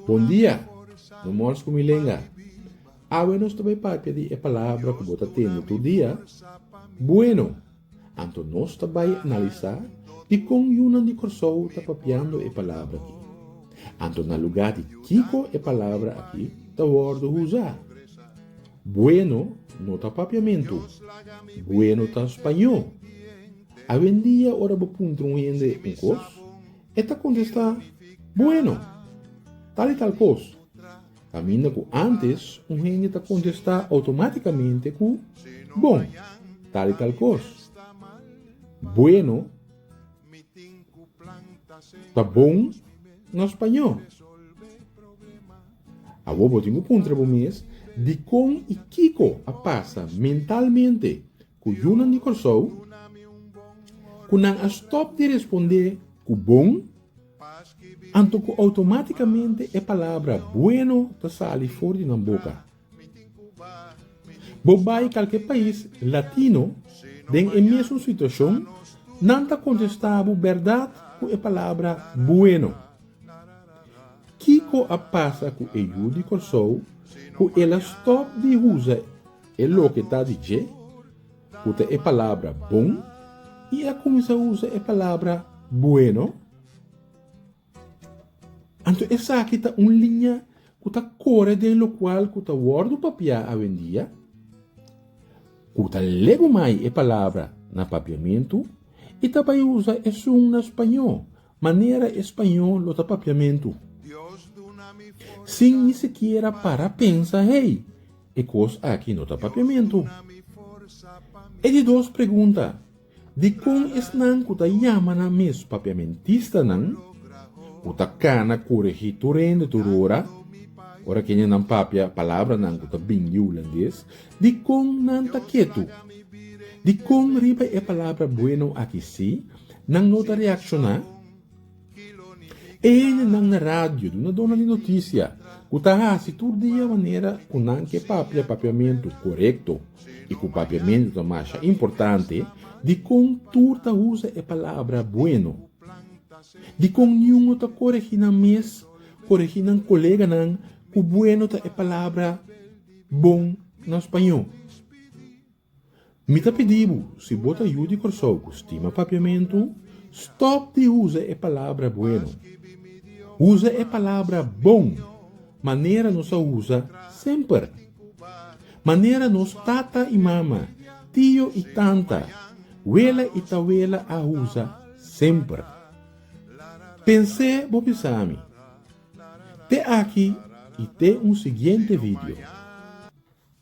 Bon dia, no mors ku mi lenga. Awe nos ta bai papia di e palabra ku bo ta tende tur dia, Bueno. Anto nos ta bai analisá dikon yunan di Kòrsou ta papiando e palabra akí. Anto na lugá di kiko e palabra akí ta wòrdu usá? Bueno no ta papiamentu, bueno ta spañó. Awendia ora bo puntra un hende un kos, e ta kontestá, Bueno, tal i tal kos. Kaminda ku ántes, un hende ta kontestá outomátikamente ku bon, tal i tal kos. Buenu ta bon na spañó. Awor bo tin ku puntra bo mes dikon i kiko a pasa mentalmente ku yunan di Kòrsou ku nan a stòp di respondé ku bon? Anto ku outomátikamente e palabra bueno ta sali for di nan boka. Bo bai kalke pais latino den e mesun situashon, nan ta kontestá bo bèrdat ku e palabra bueno. Kiko a pasa ku e yu di Kòrsou ku el a stòp di usa e loke ta di dje? Ku ta e palabra bon i a kuminsá usa e palabra bueno, anto esaki ta un liña ku ta kore den lokual ku ta wòrdu papiá awendia. Ku ta legu mai e palabra na papiamentu, i ta bai usa esun na spañó Manera e spañol lo ta papiamentu. Sin ni sikiera para pensa, Hey, e kos aki no ta papiamentu. E di dos pregunta, Dikon esnan ku ta yama nan mes papiamentistanan, ku ta kana koregí tur hende tur ora, ora kendenan papia palabranan ku ta bin di hulandes, dikon nan ta ketu? Dikon riba e palabra buenu aki sí, Nan no ta reakshoná. E hendenan na radio duna dona di notisia ku ta hasi tur dia manera ku nan ke papia papiamentu korekto i ku papiamentu ta masha importante dikon tur ta usa e palabra bueno, dikon niun no ta koregí nan mes, koregí nan koleganan ku bueno ta e palabra bon na spañó. Mi ta pidi bu, si bo ta yu di Kòrsou ku stima Papiamentu, stòp di usa e palabra bueno. Usa e palabra bon manera nos a usa semper. Manera nos tata i mama, tio i tanta, wela i tawela a usa semper. Pens'é bo bisami. Te aki i te un siguiente video.